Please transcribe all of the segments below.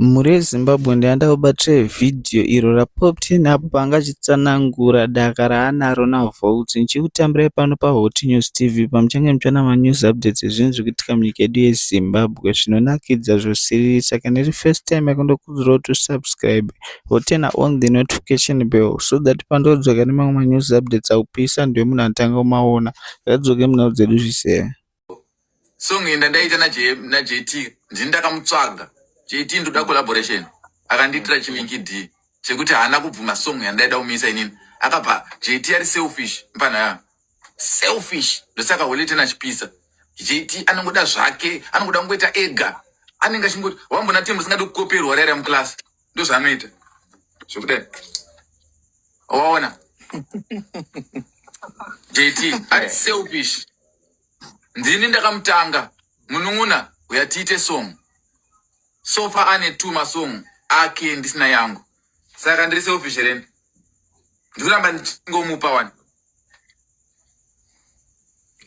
Mhuri yeZimbabwe ndayanda kubatira video iro raPoptain apo paanga achitsanangura daka raanaro naVolts ndichikutambirai pano paHot News TV pamuchange muchiona manews updates ezvinhu zviri kuitika munyika yedu yeZimbabwe zvinonakidza zvosiririsa kana iri first time yako ndokukurudzirawo kuti usubscribe woturna on the notification bell so that pandodzoka nemamwe manews updates aupisa ndiwe munhu anotanga kumaona ngadzoke munhau dzedu zvise. song iyi ndandaita najt ndini ndakamutsvaga jt ndoda collaboration akandiitira chiminki d chekuti haana kubvuma song yandaida kumisa inini akabva jt ari selfish mpanaya selfish ndosaka holete nachipisa jt anongoda zvake anongoda kungoita ega anenge achingoti wambona temu singadi kukoperwa raira muclass ndozvaanoita zvokudai waona jt ari selfish ndini ndakamutanga munun'una uya tiite song sofa ane two masong ake ndisina yangu saka ndiri selfish here ndi ndikuramba ndichingomupa wani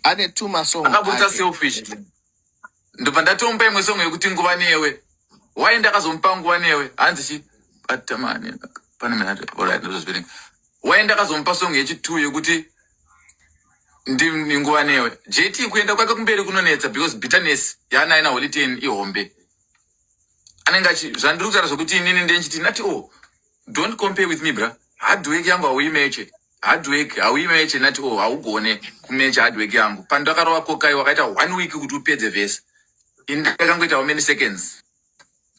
ane two masong akabudisa selfish ndobva ndatomupa imwe song yekuti nguva newe why ndakazomupa nguva newe hanzi chi atamani pane minati alright ndozozviverenga why ndakazomupa song yechitwo yekuti ndi nguva newe jt kuenda kwake kumberi kunonetsa because bitterness yaanaye naholiten ihombe anenge achi zvandiri kutaura zvekuti inini ndenchiti ndati o oh, don't compare with me bra hardwork yangu hauimeche hardwork hauime yeche nati o oh, haugone kumecha hardwork yangu pandakarova kokai wakaita one week kuti upedze vese ini ndakangoita how many seconds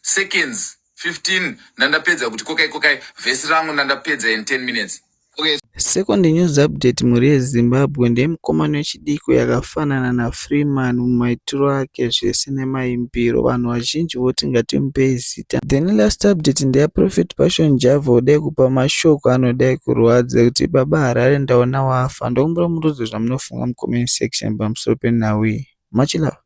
seconds 15 ndandapedza kuti kokai kokai vhesi rangu ndandapedza in 10 minutes okay. second news update mhuri yezimbabwe ndemukomana wechidiko yakafanana nafreeman mumaitiro ake zvese nemaimbiro vanhu vazhinji voti ngatimupei Thank Then last update ndeya Prophet Passion Java udai kupa mashoko anodai kurwadza kuti baba Harare ndaona wafa ndokumbira murudze zvamunofunga mucomment section pamusoro penhau iyi. Much love.